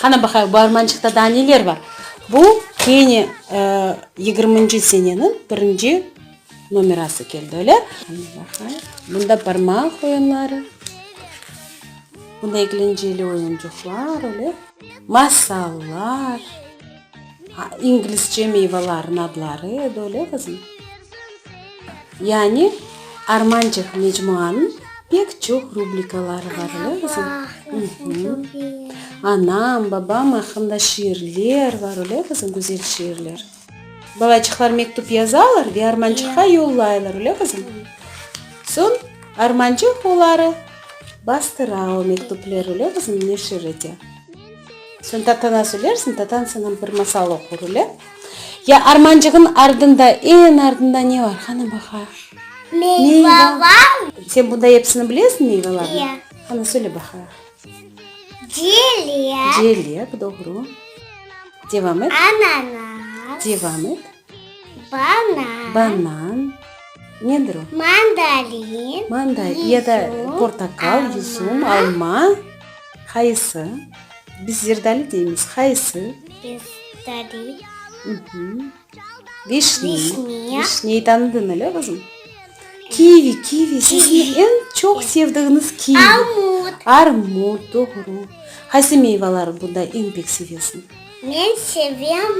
Qana baqayıq, bu armançıqta daa neler bar? Bu kene yigirminci seneniñ birinci nomerası keldi, öyle? Qana baqayıq, bunda barmaq oyunları, bunda eglenceli oyuncıqlar, öyle, masallar. İngilizce meyvelerin adları edi, öyle qızım? Yani Armançıq mecmuanıñ pek çoq rubrikaları bar, öyle qızım? Anam, babam aqqında şiirler bar, öyle qızım, güzel şiirler? Balaçıqlar mektüp yazalar ve Armançıqqa yollaylar, öyle qızım? Soñ Armançıq oları bastıra o mektüpleri, öyle qızım, neşir ete. Sen tatana söylersiñ, tatan sana bir masal oqur ile. Ya armancığın ardında, eñ ardında ne bar? Qana baqa. Meyvalar. Sen bunda episini bilesiñ meyvalarnıñ? Ya. Qana söyle baqa. Celek. Celek, doğru. Devam et. Ananas. Devam et. Banan. Banan. Nedir o? Mandarin. Mandarin ya da portakal, yusum, alma. Qayısı? Biz Zerdali deymiz. Qayısı? Zerdali. Vişni. Vişniyi tanıdın öyle qızım? Kivi, kivi. Sizni en çoq sevdiğiniz kivi. Armut. Armut, doğru. Qaysı meyvaları bunda en pek sevesiñ? Men sevem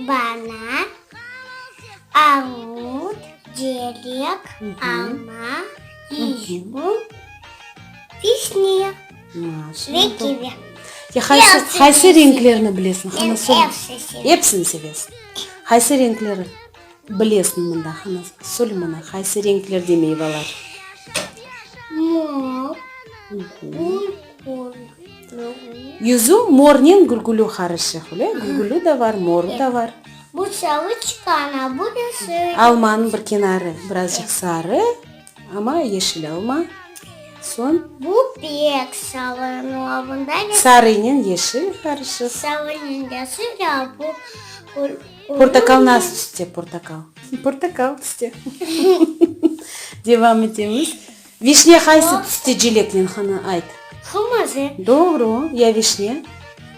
banan. Armut, cerek, alma, üzüm, vişniya ve kivi. Qaysı renklerni bilesiñ? Epsini sevesiñ. Qaysı renkleri bilesiñ mında? Qana, söyle mana, qaysı renklerde meyvalar? Mor. Yüzü mornen gülgülü qarışıq, öyle, gülgülü de bar, moru da bar. Almanıñ bir kenarı birazcıq sarı, amma yeşil alma. Soñ. Sarıynen yeşil qarışıq. Portakal nasıl tüste, portakal? Portakal tüste. Devam etemiz. Vişne haysı tüste celeknen hanı ayt? Qırmızı. Doğru. Ya vişne?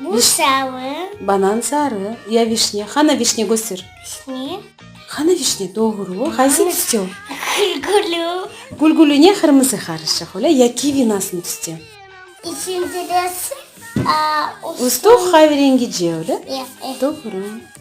Bu sarı. Banan sarı. Ya vişne? Hanı vişne köster. Vişne. Hanı vişne? Doğru. Haysı tüste o? Gülgülü. Gülgülü ne qırmızı qarışıq olay ya kivi nasın tüste? İçinde de aa ustuq. Ustuq hayı rengice olay? Ya. Doğru.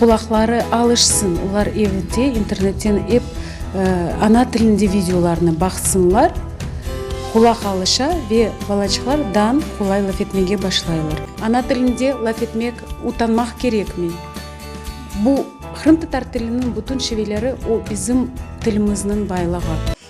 Qulaqları alışsın, olar evde internetten ep ana tilinde videolarnı baqsınlar, qulaq alışa ve balaçıqlar dan qolay laf etmege başlaylar. Ana tilinde laf etmek utanmaq kerekmi? Bu, qırımtatar tiliniñ bütün şiveleri, o bizim tilimizniñ baylığı.